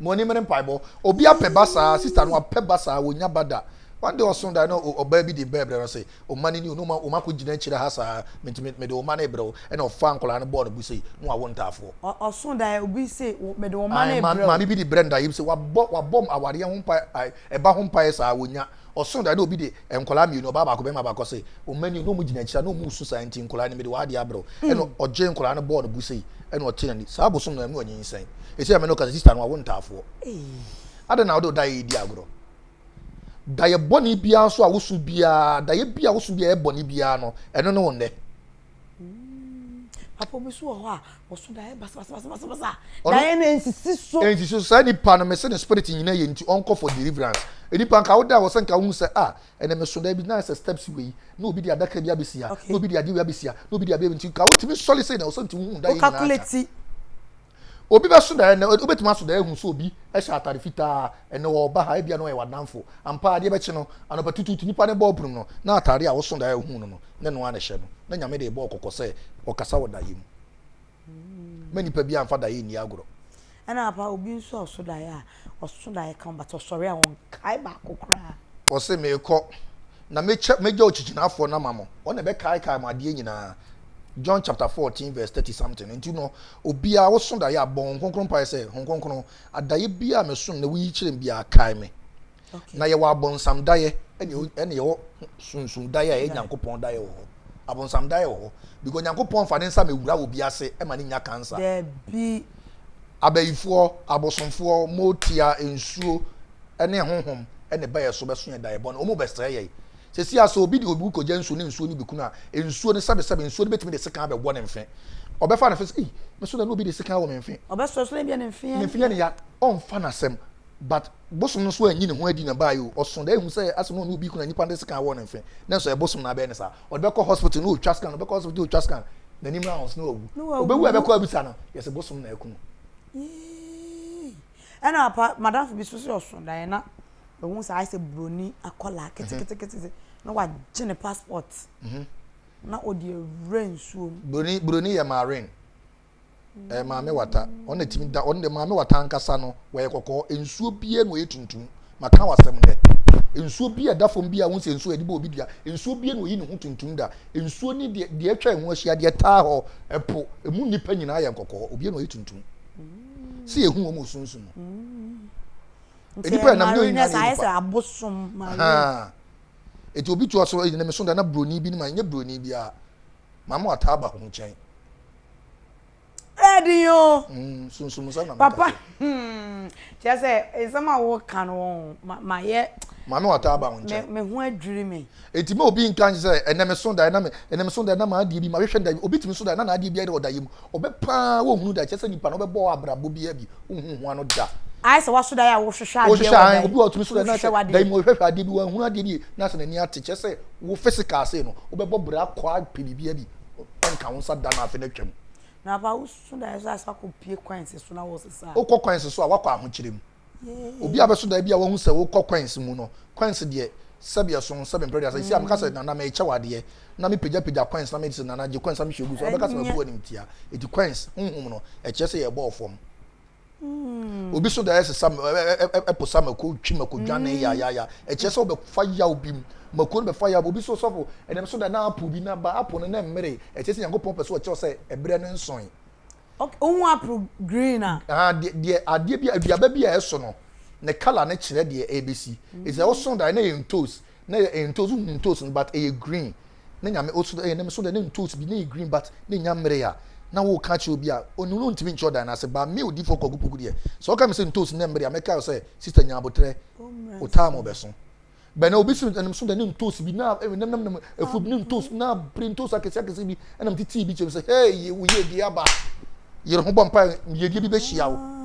mo ani mmere mpaebɔ obi apɛ ba saa sista no apɛ ba saa wɔnya ba da one day ɔso da na ɔbaa bi de bɛɛ brɛ no se ɔma no ni ɔno ɔma akɔ gyina akyire ha saa mentumi mede ɔma no brɛ wo ɛna ɔfa nkɔlaa no bɔɔ no bu sei na wawo ntaafoɔ ɔso da obi se mede ɔma no brɛ wo maame bi de brɛ no da yɛ bi se wabɔ wabɔ awareɛ ho mpa ɛba ho mpaeɛ saa wɔnya Ɔsoo dae na obi de nkwadaa mmienu, ɔbaa baako, barima baako, ɔse wɔn mma nie na wɔn gyina akyire a na wɔn resu saa nti nkwadaa no mede wɔn adeɛ abrɛ wo. Ɛna ɔgyee nkwadaa no bɔɔ no gu sei ɛna ɔtee n'ani. Saa bosom no na ɛma ɔnyinsɛn. Ɛsei a me ne wo kasa sister no wawo ntaafoɔ. Adɛn na wode wo daeɛ redi agorɔ? Daeɛ bɔne biara nso a woso biara, daeɛ bi a woso biara ɛyɛ bɔne biara no, ɛno ne wo nnɛ. Mm. Papa bi so wɔ hɔ a ɔso daeɛ basabasabasabasa daeɛ no ɛnsisi so. Ɛnsisi so saa nipa no mese ne spirit nyina yɛ nti ɔnkɔ for deliverance. Nipa nka woda wɔ sɛ nka wohu sɛ ah ɛnɛ meso daeɛ bi na sɛ steps wei na obi de adaka bi abɛsia na obi de adeɛ wei abɛsia na obi de adeɛ wei nti nka wotumi sɔre sei na ɔsɛ nti wohu daeɛ nyinaa ka. Obi bɛso da ɛnɛ, wobɛtumi aso da ahu sɛ obi hyɛ atade fitaa, ɛnɛ ɔreba ha, ebia na ɔyɛ w'adamfo. Ampa, adeɛ bɛkye no, anɔpatutuutu nnipa no bɔ apunum no, na atade a woso da ahu no no, na ɛno ara na ɛhyɛ no. Na Nyame de rebɔ kɔkɔ sɛ, Ɔkasa wɔ daeɛ mu. Mma nnipa biara mfa daeɛ nni agorɔ. Ɛna ampa, obi nso a ɔso daeɛ a, Ɔso na yɛka ho but ɔsɔre a ɔnkae baako koraa. Ɔse meekɔ na mekyɛ megya okyikyinafoɔ no ama mo, ɔno na ɛbɛkaekae mo adeɛ nyinaa, John chapter fourteen verse thirty something, nti no obiaa woso daeɛ a bɔ Honhom Kronkron mpaeɛ sɛ Honhom Kronkron adaeɛ biaa a mesono na woyi kyerɛ me biaa kae me Na yɛwɔ abɔnsam daeɛ ɛne yɛwɔ sunsum daeɛ a ɛyɛ Nyankopɔn daeɛ wɔ hɔ. Abɔnsam daeɛ wɔ hɔ because Nyankopɔn fa ne nsa mewura wɔ bi ase ɛma ne nya cancer. Dabi. Abayifoɔ, abosomfoɔ, motia, nsuo, ɛne ahohom ɛne ba yɛ so bɛso yɛ daeɛ bɔne. Wɔn bɛsrɛ yɛ. Sɛsi a sɛ obi de obi kɔgya nsuo ne nsuo no bi kunu a, nsuo no sɛbe sɛbe nsuo no bɛtumi de sekan abɛwɔ ne mfe. Ɔbɛfa no fɛ sɛ ei, me so na na obi de sekan wɔ me mfe. Ɔbɛsrɛ so na ebia ne mfe yɛ ne ya. Ɔmfa no asɛm. But bosom no so anyi ne ho adi na baa yi o, ɔso dɛ ehu sɛ asɛ na ɔne obi kuna nyimpa no dze scan wɔ ne mfe, na nso ɛbosom na abɛyɛ ne saa. Ɔde bɛkɔ hospital na otwa scan, ɔbɛkɔ hospital otwa scan, n'enyim no ahoose na ɔawu. Obewu a ɛbɛkɔ abisa no, yɛse bosom na aku no. Yii! Ɛna apa, m'adamfo bi so se ɔso daeɛ na ohun sɛ ayɛ sɛ broni akɔlaa ketekete na wagye ne passport na ɔde awura nsuo mu. Broni, broni yɛ marine. ɛyɛ maame wata ɔno na ɛtumi da ɔno de maame wata ankasa no wɔyɛ kɔkɔɔ nsuo biara na ɔyɛ tuntum maka wasɛm dɛ nsuo bi a ɛda fam bi a wohu sɛ nsuo yɛde bɔ obi dua nsuo biara na ɔyi ne ho tuntum da nsuo ne deɛ deɛ atwa ɛho ahyia deɛ taa hɔ ɛpo ɛmu nnipa nyinaa yɛ nkɔkɔɔ obiara na ɔyɛ tuntum sɛ yɛhu wɔn wɔ sunsun mu nnipa yɛ nam yɛ onyina yɛ nipa abosom maa eti obi tu ɔsoro ɛyɛ ne so da na broni bi ne ma nyɛ broni bi a maame wata aba ho nkyɛn ɛdi yo. Mm, sunsumu sa na meka. Papa, hmm, kyerɛ sɛ nsɛm a woka no wɔn ma ma yɛ. Maame wata aba wɔn nkyɛn. Me ho adwiri me. Eti ma obi nka nkyɛn sɛ ɛnɛ me so da ɛna me ɛnɛ me so da ɛna maa adeɛ bi ma hwehwɛ da obi tumi so da ɛna na adeɛ bi ayɛ ɔda yɛ mu ɔbɛ paa wɔn hunu da kyerɛ sɛ nipa na ɔbɛ bɔ abrabɔ bi abi ohun ho ano da. Ayɛ sɛ waso da yɛ a wohwehwɛ adeɛ wɔ da yi. Wohwehwɛ an obi wɔ tumi so da ɛna sɛ da yi mu ɔhwehwɛ adeɛ bi wɔn hunu adeɛ bi na sɛ n'ani ate kyerɛ sɛ wo physical ase no wobɛbɔ bra kɔ apɛ biribi abi nka ho nsa da no afe no atwam. Na apa wosusu daeɛ so a sɛ wakɔpie kwansi so na wosesa a. Wokɔ kwansi so a wakɔ ahokyerɛ mu. Obi a bɛso daeɛ bi a wahu sɛ wokɔ kwansi mu no, kwansi deɛ sɛbi ɛso ho sɛbi mpere deɛ asɛ si a meka sɛ nana mekyɛ wo adeɛ na mepagyapagya kwansi na meyɛ sɛ nana gye kwansi na mehwɛ gu so a wobɛka sɛ mabu animtia. Enti kwansi honhom no ɛkyerɛ sɛ yɛbɔɔ fam. obi so da yɛ sesa ɛpo sa mako twi mako dwane mm. ya ya ya ɛkyɛ sɛ ɔbɛfa yaw bi mu mako no bɛfa yaw obi so sɔfo ɛnam so da na apo bi na ba apo no na mmere ɛkyɛ sɛ nyankopɔn pɛ so ɔkyerɛ sɛ ɛbrɛ no nson ohun apo green a ah deɛ adeɛ bi aduaba bi a ɛso no ne kala ne kyerɛ deɛ ɛbɛsi ɛsɛ ɔso da na yɛ ntos Na yɛ ntos wohu ntos no but ɛyɛ green na nyame oso ɛyɛ nam so dɛ na ntos bi na ɛyɛ green but na ɛnya mmere a na woka akyerɛ obi a onim no ntumi nkyerɛ ɔdan no ase but me odiyifoɔ kwaku poku deɛ sɛ woka me sɛ ntos nya mmere a mɛkae wo sɛ sister nya aboterɛ wotaa mo bɛso bɛn na obi se nam so dɛ na ntos bi na ɛyɛ nam nam nam afuo bi na ntos na bere ntos akɛseɛ akɛseɛ bi ɛna metetee bi kyɛm sɛ hei wo yɛ dua ba yere ho bɔ mpa yɛdua bi bɛhyia wo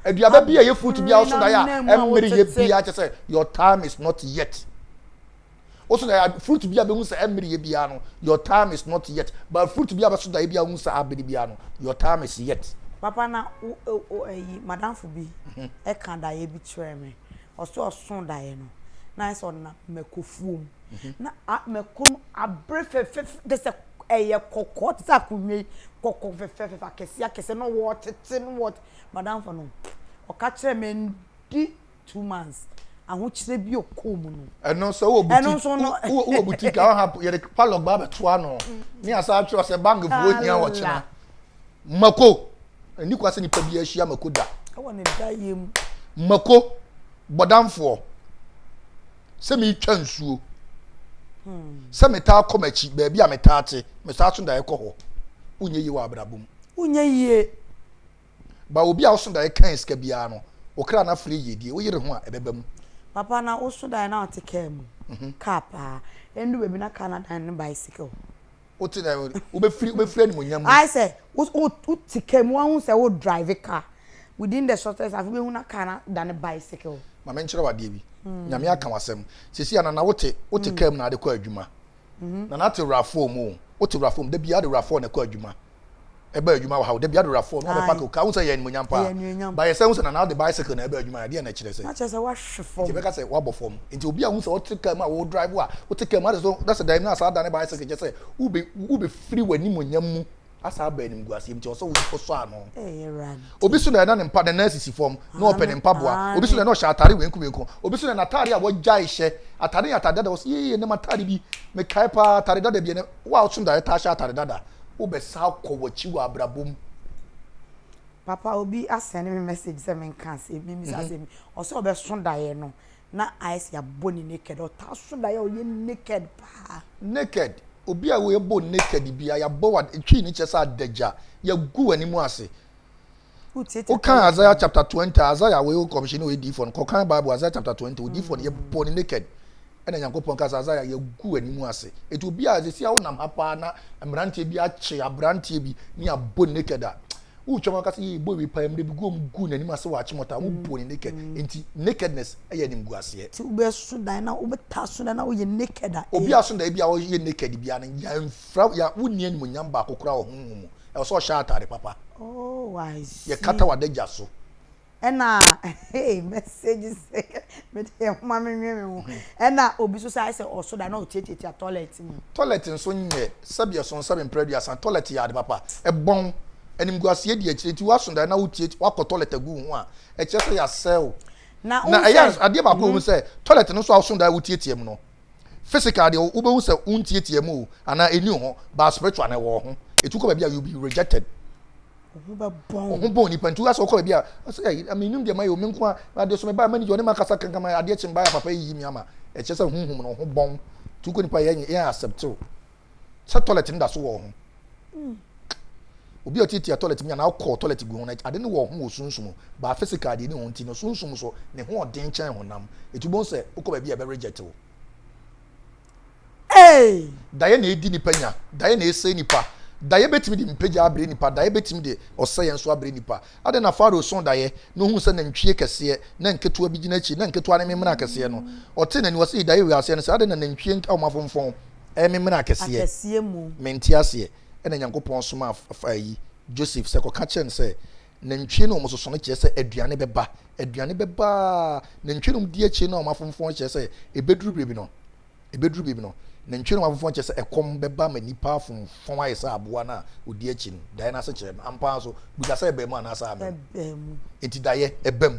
aduaba bi a ɛyɛ fruit bi a woso daeɛ a ɛmmere yɛ biara kyɛ sɛ your time is not yet woso daeɛ fruit bi a bɛhu sɛ ɛmmere yɛ biara no your time is not yet but fruit bi a bɛso daeɛ bi a wohu sɛ abere biara no your time is yet papa na ɛyi madamfo bi mhm. ɛka daeɛ bi kyerɛ me ɔsɛ ɔso daeɛ no na ayɛ sɛ ɔnam mɛkofuo mu na mɛko no abere fɛfɛfɛ de sɛ ɛyɛ kɔkɔɔ te sɛ akonnwa yi kɔkɔɔ fɛfɛfɛ akɛse akɛse na wɔtete no wɔ madamfo no ɔka kyerɛ me ndi two months ahokyerɛ bi ɔkɔɔ mu no ɛno sɛ wɔ butik wɔ butik a ɔha yɛde palɔg ba abɛtoa no ne asa atwerɛ sɛ bank foɔ hia wɔkyena Mako, ɛni kwa sɛ nipa bi ahyia Mako da. Ɛwɔ ne da yɛ mu. Mako, bɔdamfoɔ, sɛ meretwa nsuo, hmm. sɛ metaa kɔ m'akyi, baabi a metaa te, metaa so daeɛ kɔ hɔ. Wonyɛ yie wɔ abrabɔ mu. Wonyɛ yie. Ba obi a woso daeɛ kan sika biara no, okra no afiri yie die, woyere ho a ɛbɛba mu. Papa na woso daeɛ na ɔte kaa mu, mhm. kaa paa, ɛndu baabi na kaa na dan ne bicycle. wote na wobɛfiri wobɛfiri animonyam mu. ayɛ sɛ wote kaa mu wahu sɛ wo drive car within the shortest afei wobɛhu na car no adane bicycle. ma menkyerɛ wo adeɛ bi hmm. nyame aka w'asɛm sɛsi anana wote wote kaa mu na ade kɔ adwuma nana ate wurafoɔ mu wote wurafoɔ mu da biara de wurafoɔ na ɛkɔ adwuma ɛbaa adwuma wɔ ha o. Dabi adorafoɔ no abɛpake o. Ka wohu sɛ ɛyɛ animuonyam paa. But yɛsan hu sɛ Nana de bicycle na ɛbaa adwuma ha. Ɛdeɛn na ɛkyerɛ sɛ? Na kyerɛ sɛ wahwe fam. Nti ɛbɛka sɛ wabɔ fam. Nti obi a wohu sɛ wote car mu a wo drive a wote car mu a na sɛ daim no asan adane bicycle kyerɛ sɛ wobɛfiri w'animuonyam mu asan aba animguaseɛ mu. Nti ɛwɔ sɛ wosɔ ano. Obi so na na ne mpa ne nan sisi fam na ɔpɛ ne mpaboa. Obi so na na ɔhyɛ atare wenku wenku. Obi so na n'atare a wagyae hyɛ. Atare yɛ atare dada. Ɔse yee ɛnɛ m'atare bi mekae paa atare dada bi. Ɛnɛ wo a woso da yɛtaa hyɛ atare dada. wobɛsan akɔ w'akyi wɔ abrabɔ mu. Papa obi a send me message sɛ menka asɛm bi mmisa asɛm bi ɔsɛ ɔbɛso daeɛ no na ayɛ sɛ yɛabɔ ne naked ɔtaa so daeɛ a ɔyɛ naked paa. Naked obi a yɛbɔ naked biara yɛabɔ wa twii no kyerɛ sɛ adagya yɛagu w'anim ase wokan isaiah chapter twenty isaiah wei kɔmhyɛni wei diifo no kɔkan bible isaiah chapter twenty wei diifo no yɛ bɔ ne naked ɛna nyankopɔn ka sɛ isaiah yɛgu anim ase eti obi a sisi a wonam ha paa na mmeranteɛ bi akye aberanteɛ bi ne abɔ ne naked a wotwa mu aka sɛ yɛ bɔ ebi paa mmerɛ bi gu wɔn gu n'anim ase wɔ akyemɔta a wobɔ ne naked mm. eti nakedness ɛyɛ anim gu aseɛ. ti wobɛ so dan na wobɛ ta so dan na woyɛ naked a. obi aso dan bi a wɔyɛ naked bi a no yɛn fira yɛn wonni animonyam baako koraa wɔ honhom mu. Ɛwɔ sɛ ɔhyɛ atade papa. Oh, I see. Yɛkata w'adagya so. Ɛna hey, message sɛ mede yɛ homa menwe me ho. Ɛna obi nso sɛ ayɛ sɛ ɔso da na ɔtiatiatia toilet mu. Toilet nso nyɛ sɛbi ɛso nsɛbi mprɛ aduasa. Toilet yɛ ade papa. Ɛbɔn. Animguaseɛ di akyire nti woaso da na wotiatia woakɔ toilet agu wo ho a, ɛkyerɛ sɛ yɛasɛe wo. Na ɛyɛ adeɛ baako a ɛwɔ mu sɛ toilet no nso a woso da a wotiatia mu no, physical deɛ wobɛhu sɛ wontiatia mu o anaa ɛni hɔ but spiritual na ɛwɔ ho ɛtu kɔ baabi a you be rejected ɔho bɔn nipa nti woasɛ wokɔ baabi a ɔsɛ menim deɛ mayɛ o menko a adeɛ so mebaa manager ɔne makasa kankama adeɛ kye mbaeɛ papa yiyi me ama ɛkyerɛ sɛ honhom no ɔho bɔn tu kɔ nipa yɛ accept o sɛ toilet no da so wɔ ho obi a ɔtiatia toilet mu yɛ na ɔkɔ toilet gu ho na ade no wɔ ho wɔ sunsum baa physical deɛ ne ho nti no sunsum so ne ho ɔden kyɛn honam ɛti wobɛhu sɛ wokɔ baabi a ɛbɛ reject wo daeɛ na ɛdi nipa nya daeɛ na ɛsɛ nipa daeɛ bɛtumi de mpagya abrɛ nipa daeɛ bɛtumi de ɔsɛeɛ nso abrɛ nipa ade na faro so daeɛ na ɔhu sɛ nantwie kɛseɛ na nketewa bi gyina akyi na nketewa ne memena kɛseɛ no ɔte n'ani wɔ sɛ daeɛ wɔ aseɛ no sɛ ade na nantwie nka ɔmafomfɔn ɛyɛ me mena akɛseɛ, akɛseɛ mu. mente aseɛ, ɛna Nyankopɔn somaa f, f, ayi, Joseph, sɛ kɔka kyerɛ no sɛ, Nantwie no wɔsoso no kyerɛ sɛ aduane bɛba, aduane bɛba ara, nantwie no wɔdi akyire na wɔafomfɔn no kyerɛ sɛ ɛbɛduru biribi no, ɛbɛduru biribi no, nantwie no wɔafomfɔn kyerɛ sɛ ɛkɔm bɛba ma nnipa afomfɔn ayɛ sɛ aboa no a ɔdi akyi no, daeɛ no asekyerɛ no, ampa ara nso, buta sɛ ɛbaa mu anaasɛ amma mu? Ɛbaa mu. Enti daeɛ, ɛba mu.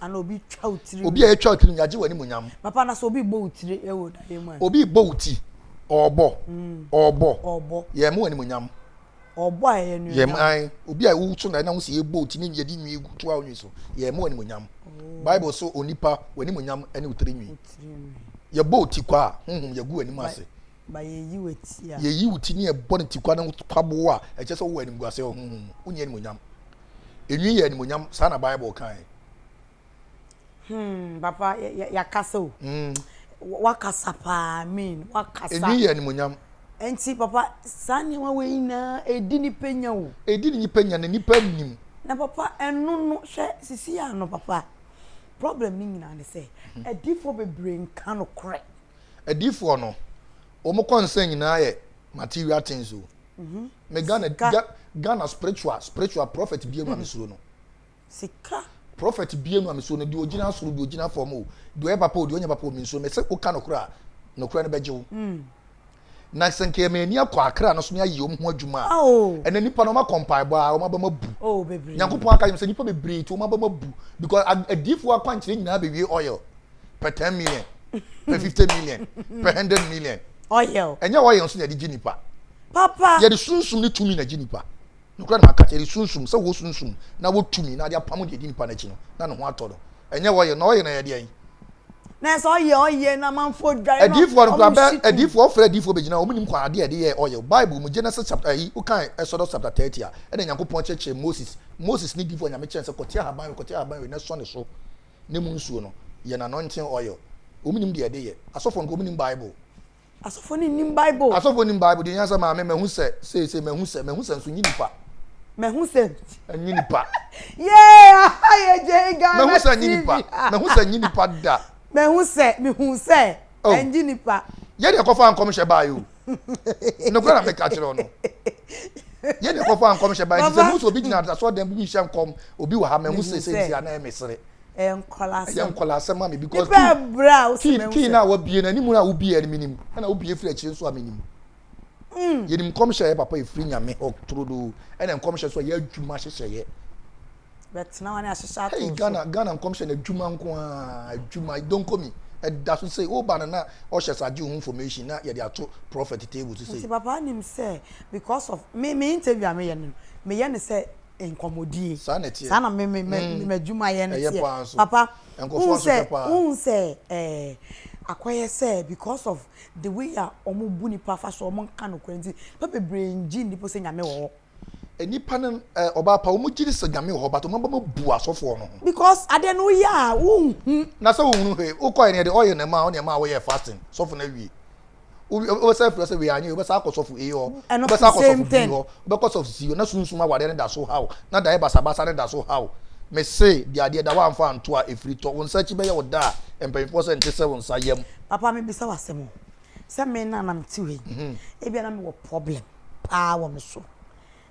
ana obi twa wo tiri obi a yɛtwa wo tiri mu yɛagye w'animuonyam papa na sɛ obi bɔ wo tiri ɛwɔ daeɛ mu a obi bɔ wo ti ɔɔbɔ mm. ɔɔbɔ ɔɔbɔ yɛ mu animuonyam ɔɔbɔ a ɛyɛ nuonyam yɛm an obi a woso na ɛna wo sɛ yɛbɔ wo ti ne yɛde nwi gu to a wonwi so yɛ mu animuonyam oh. bible so onipa w'animuonyam ne wo tiri nwi yɛbɔ wo ti kɔ a honhom yɛgu w'anim ase ma yeyi wo atia. Yeyi wo ti ne ɛbɔ ne tikwa no kwabow a ɛkyerɛ sɛ wowɔ animguase wɔ honhom mu. Wonni animuonyam. Enwi yɛ animuonyam, saa na Bible kae. Hmm, papa, yɛakasa o. Hmm. Wakasa paa, mean, wakasa. Enwi yɛ animuonyam. Nti, papa, saa nneɛma wei nyinaa edi nipa nya o. Edi nipa nya na nipa nim. Na papa, ɛno no, hwɛ sisi ano, papa, problem ne nyinaa ne sɛ, hmm. adifo bebree nka no korɛ. Adiifoɔ no, wɔn kɔnsa nyinaa yɛ material things o. Me Ghana, Ga, Ghana spiritual, spiritual prophet bienu a mesuro no. Sika. Prophet bienu a mesuro no, deɛ ogyina soro, deɛ ogyina fam o, deɛ ɔyɛ papa o, deɛ ɔnyɛ papa o, mensuro. Mese woka nokorɛ a, nokorɛ no bɛgye wo. Na sɛ nka yɛma ani akɔ akra no so ne ayɛ wɔn ho adwuma a, ɛnna nnipa no wɔakɔ mpaebɔ a wɔn abam abu. Nyankopɔn aka yɛn sɛ nnipa bebree ti wɔn abam abu because adiifoɔ akwankyerɛ nyinaa bɛwie oil pɛ ten million pɛ fifty million pɛ hundred million. Oil. Ɛnyɛ oil nso na yɛde gye nipa. Papa. Yɛde sunsum ne tumi na gye nipa. Nokorɛ na maka, yɛde Sunsum, sɛ wɔ Sunsum, na wɔ tumi, na ade apamo deɛ ɛdi nipa no akyi no, na ne ho atɔ no. Ɛnyɛ wɔyɛ, na ɔyɛ na yɛdeɛn? Na ɛsɛ ɔyɛ, ɔyɛ na amanfoɔ dware na Adiyifoɔ no koraa, bɛ, wɔhye tum. adiyifoɔ, wɔfrɛ adiyifoɔ bɛgyina, wɔn nim kwan, adeɛ a ɛde yɛɛ ɔyɛ, Bible mu, Genesis chapter, ayi, wo kan Exodus chapter 30 a, ɛna Nyankopɔn kyerɛkyerɛ Moses, Moses ne diyifoɔ a Nyame kyerɛ no sɛ kɔte ahaban we, kɔte ahaban we na sɔ ne so, ne mu nsuo no, yɛ no anointing oil, wɔn nim deɛ ɛde yɛ, asɔfoɔ no koraa wɔn nim Bible. Asɔfo no nnim Bible. Asɔfo nim Bible deɛ nyansa maame mahu sɛ seesei mahu sɛ mahu sɛ nso nye nipa. Mahu sɛ nye nipa. Yee aha yɛ gye Ghana TV. Mahu sɛ nye nipa mahu sɛ nye nipa da. Mahu sɛ mehu sɛ ɛnye nipa. Yɛ na ɛkɔfaa nkɔmhyɛ baeɛ o nokorɛ na meka kyerɛ wo no yɛ na ɛkɔfaa nkɔmhyɛ baeɛ nti sɛ mehu sɛ obi gyina asɔɔdan bi mu hyɛ nkɔm obi wɔ ha mahu sɛ sɛ nti anaa ɛmesere ɛyɛ nkɔla asɛm ɛyɛ nkɔla asɛm ami because nipa ɛbrɛ a wosi mɛ kii na wabie na anim na wobie ɛni minim ɛna wobie firi akyire nso a minim mm. yɛnim nkɔmhyɛ yɛ papa efiri nyame hɔ turodoo ɛna nkɔmhyɛ nso yɛ adwuma hyehyɛ yɛ bɛtena wɔn ahyehyɛ ato so ghana ghana nkɔmhyɛ na adwuma nko ara adwuma donkomi ɛda so sɛ woba no na ɔhyɛ sɛ agye ho information na yɛde ato prophet table so sɛ nti papa nim sɛ because of me me interview a meyɛ no meyɛ no sɛ nkɔmmɔdie. Saa na ɛteɛ. Saa na me me me mm. m'adwumayɛ no teɛ. Papa, wohu sɛ wohu sɛ ɛɛ akɔyɛ sɛ because of the way a wɔn bu nipa fa so wɔn nka nokorɛ nti nipa bebree ngye nnipo sɛ nyame wɔ hɔ. Eh, nipa no eh, ɔbaa pa wɔn gye ne sɛ nyame wɔ hɔ but wɔn abɛma bu asɔfoɔ no ho. because adeɛ no yɛ a wohu. na sɛ wohunu hwee wokɔɛ neɛ de ɔyɛ na ɛma ɔne ɛma woyɛ fasting sɔfo no awie wobɛsan afiri sɛ wei anyɛ wobɛsan akɔ sɔfo ei hɔ wobɛsan akɔ sɔfo bi hɔ wobɛkɔ sɔfo si hɔ na sunsum awadeɛ no da so haw na daeɛ basabasa no da so haw mese de adeɛ da woamfa anto a ɛfiri tɔ wo nsa akyi bɛyɛ wo da a mpanyinfoɔ sɛ nte sɛ wo nsa yam papa mebisa wo asɛm o sɛ me na nam te wei mhm. ebia na mewɔ problem paa wɔ me so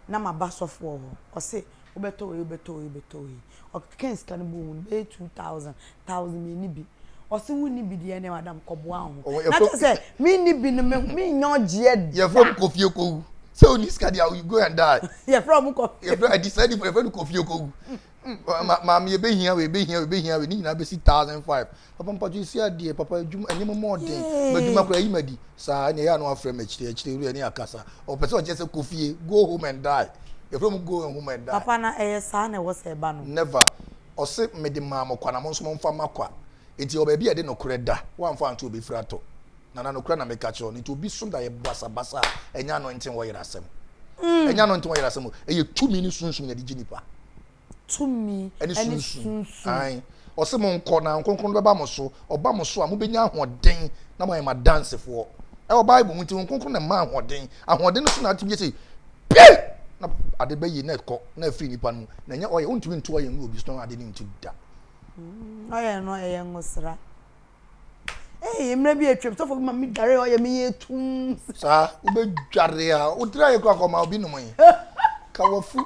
na maba sɔfoɔ hɔ, ɔse wobɛtɔ wei wobɛtɔ wei wobɛtɔ wei, ɔkekɛɛ sika no bɔɔ mu no bɛyɛ two thousand, thousand mmieni bi, ɔse wonni bi deɛ ɛneɛ madam kɔboa wo ho, na kyerɛ sɛ menni bi no mennya ɔgyeɛ da. Yɛfrɛ ɔmo kɔfie kɔwu, sɛ wonni sika deɛ you go and die. Yɛfrɛ ɔmo kɔfie. Yɛfrɛ adi saa nipa yɛfrɛ no kɔfie kɔwu, maame yɛbɛhia wei yɛbɛhia wei yɛbɛhia wei ne nyinaa bɛsi thousand five, Papa mpatsɔ esi adeɛ papa adwuma ɛnyɛ mo mɔɔden madwuma koraa yi ma di saa ɛna ɛyɛ ano afrɛ mo akyire akyire wura ɛne akasa ɔpɛ sɛ ɔkyɛ sɛ kofie go home and die yɛfrɛ mo go home and die. Papa na ɛyɛ saa na ɛwɔ sɛ ɛba no. Never ɔse mede maa mo kwa na mo nso mo nfa ma kwa nti yɛwɔ baabi a yɛde nokorɛ da wamfa anto obi firi atɔ nana nokorɛ na meka kyerɛ no nti obi so da yɛ basabasa a ɛnyɛ anointing wɔyera asɛm ɛnyɛ anointing wɔyera asɛm o ɛyɛ tumi ne sunsum na ɛde gye nipa. tumi ne sunsum. Aane. Ɔse monkɔ na Honhom Kronkron no bɛba mo so, ɔba mo so a mobɛnya ahoɔden na moayɛ m'adansefoɔ. Ɛwɔ Bible mu nti Honhom Kronkron na ɛma ahoɔden. Ahoɔden no so na atumi sɛ pie na ade bɛyi na ɛkɔ na afiri nipa no mu na ɛnyɛ ɔyɛ wontumi nto ɔyɛ ngu obi so na ade no ntu da. Ɔyɛ no ɛyɛ ngosra. Ee, mmerɛ bi atwam, sɔfo bi ma me dware ɔyɛ me yɛ tum. Saa, wobɛdware a, wotira yɛ kura kɔma obi nom yi. Ka wafu.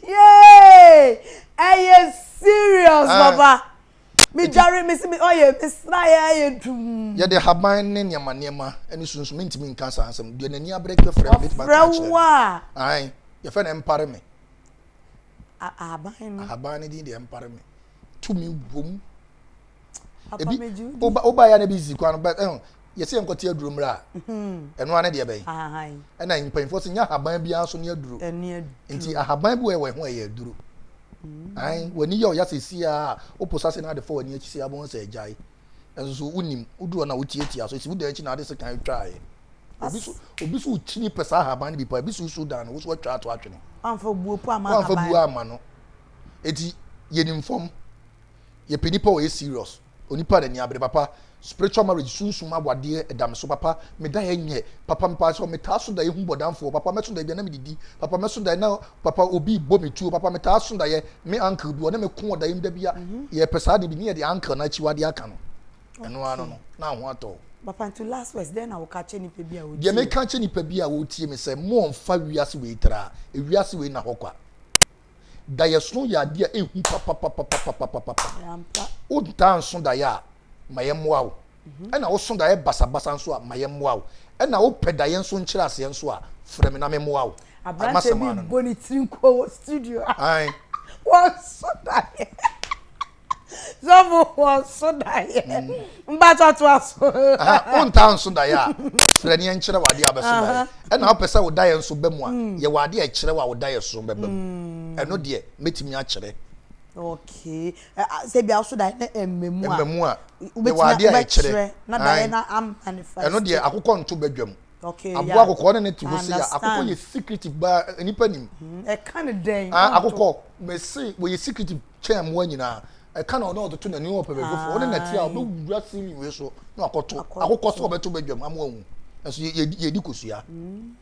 Yee! Ɛyɛ serious, ah. papa. Medware, mesi me ɔyɛ, mesra yɛ ayɛ dum. Yɛde haban ne nneɛma nneɛma ne sunsum mentumi nka saa nsɛm. Deɛ n'ani abrɛ kɛ frɛ me, metumi aka akyerɛ no. Ae, yɛfɛ no ɛmpare me. Ahaban no. Ahaban no din deɛ ɛmpare me. tumi wɔ mu ebi woba yɛ na ebi sisi kwan no but ɛn yɛsɛ yɛn kɔte aduro mmerɛ a mhm. ɛno ara ne deɛ bɛyɛ ɛna mpanyinfoɔ sɛ nyɛ ahaban biara nso ne aduro nti ahaban bi wɔ yɛ wɔ ɛho ɛyɛ aduro mhm. ayi w'ani yɛ ɔya sɛ si a wopo sase na ade fɔ w'ani akyi si a wɔn sɛ ɛgya yi ɛnso so wonim woduro na wotiatia so esi wodan akyi na ade sɛ kan atwa ayɛ obi so obi so kyini pɛ saa ahaban no bi pa ebi so so dan no woso atwa ato atwene. wamfa buo po ama ahaban no wamfa buo ama no. Enti yɛnim fam. Yɛpɛ nnipa a wɔyɛ serious, onipa a n'ani abere papa. Spiritual marriage, sunsum awadeɛ, ɛda me so papa. Meda yɛ nyɛ papa mpa sɛ metaa so daeɛ hu bɔdamfoɔ papa. Mɛso daeɛ bia na medidi papa. Mɛso daeɛ na papa obi rebɔ me tuo papa. Metaa so daeɛ me uncle bi ɔne me ko wɔ daeɛ mu da bia. Yɛpɛ saa de bi ne yɛde uncle no akyiwadeɛ aka no. Ɛno ara no no na ho atɔ wo. Papa nti last words dɛn na woka kyerɛ nipa bi a ɔretie. Deɛ meka kyerɛ nipa bi a ɔretie me sɛ mommfa wiase wei tra. Ewiase wei nna hɔ kwa. Daeɛsono yɛ adeɛ a ɛhu papapapapapapapa. Ampa. Wontaa nso daeɛ a, ma yɛmmoa wo. Mhm. Ɛna woso daeɛ basabasa nso a, ma yɛmmoa wo. Ɛna wopɛ daeɛ nso nkyerɛaseɛ nso a, frɛ me na memmoa wo. Aberanteɛ bi bɔ ne tiri nko wɔ studio a. Ae. Wɔnso daeɛ. Sɔfo wɔ nso daeɛ. Mm. Mpatsɔ to aso. Wontaa nso daeɛ a frɛ ne nkyerɛ wɔ adeɛ a bɛso daeɛ. Ɛna wopɛ sɛ wo daeɛ nso bɛ mu a mm. yɛwɔ adeɛ a ɛkyerɛ wɔ a wo daeɛ so bɛba mu. Mm. Ɛno deɛ mɛtumi akyerɛ. Okay. Sɛ bia so daeɛ na ɛmmamu a. Ɛmmamu a. Yɛwɔ adeɛ a ɛkyerɛ. Na daeɛ na amanifest. Ɛno deɛ akokɔ nto badwam. Okay, aboa yeah. akokɔ ne ne te hɔ se ya akokɔ yɛ secretive baa eh, nipa nim mm-hmm. ɛka ne dɛn ah, akokɔ mese wɔyɛ secretive kyɛn mmoa nyinaa ɛka na ɔno ɔtoto n'ani ɔpɛ baabi foforɔ ɔne nɛte a ɔbɛwura ceiling wei so na akɔto akokɔ sɛ ɔbɛto badwam ama wahu nso yɛdi kosua mm.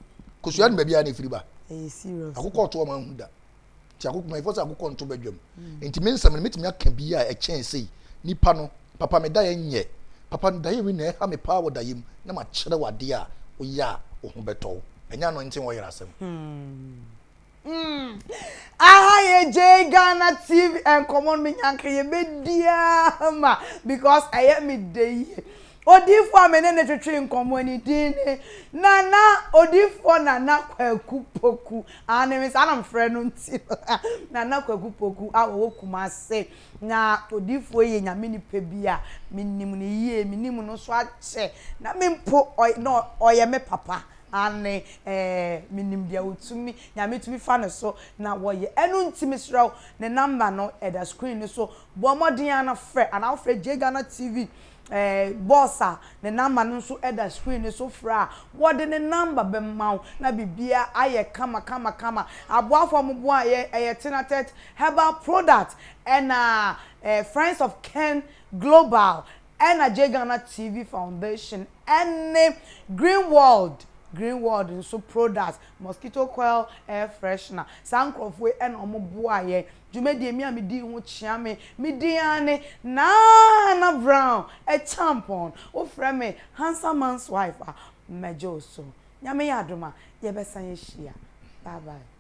kosua no baabi a na ɛfiri ba akokɔ ɔto ɔma ahu da nti akoko mɛfɔ sɛ akokɔ nto badwam mm. nti me nsɛm no mɛtumi aka bi a ɛkyɛn sei nipa no papa me daeɛ nyɛ papa no daeɛ wei na ɛha me paa wɔ daeɛ mu na makyerɛ wadeɛ a woyɛ a wo ho bɛtɔ wo ɛnyɛ ano nte wɔyerɛ asɛm hmm. hmm. aha yɛ gye ghana tv nkɔmmɔ no menyanka yɛbɛdiaa ma because ɛyɛ me da yie odiifoɔ a me ne ne twetwe nkɔmmɔ ne din ne nana odiifoɔ nana kwaku poku Aane me saa na mefrɛ no nti no Nana Kwaku Poku a ɔwɔ Kumase na odiifoɔ yi yɛ Nyame nipa bi a menim no yie menim no nso akyɛ na me mpo na ɔyɛ me papa aane ɛɛ menim deɛ ɔtumi Nyame tumi fa ne so na wɔyɛ ɛno nti mesrɛ wo ne number no ɛda screen no so bɔ mmɔden ara na frɛ anaa wofrɛ Jay Ghana TV Boss a ne number no nso da screen no so frɛ a, wɔde ne number bɛma wo na biribiara ayɛ kama kama kama. Aboafo a wɔboaeɛ, ɛyɛ Tenatet Herbal Product ɛna Friends of Ken Global ɛna Gye Ghana TV Foundation ɛne Green World Green World nso Products, Mosquito Coil Air Freshener. Saa nkurɔfoɔ yi na wɔboaeɛ Dwumadie a me a medii ho kyea me, me din ara ne Nana Brown Acheampong. Wofrɛ me Handsome Man's Wife a, mɛgye wo so. Nyame yɛ adom a, yɛbɛsan ahyia. Bye bye.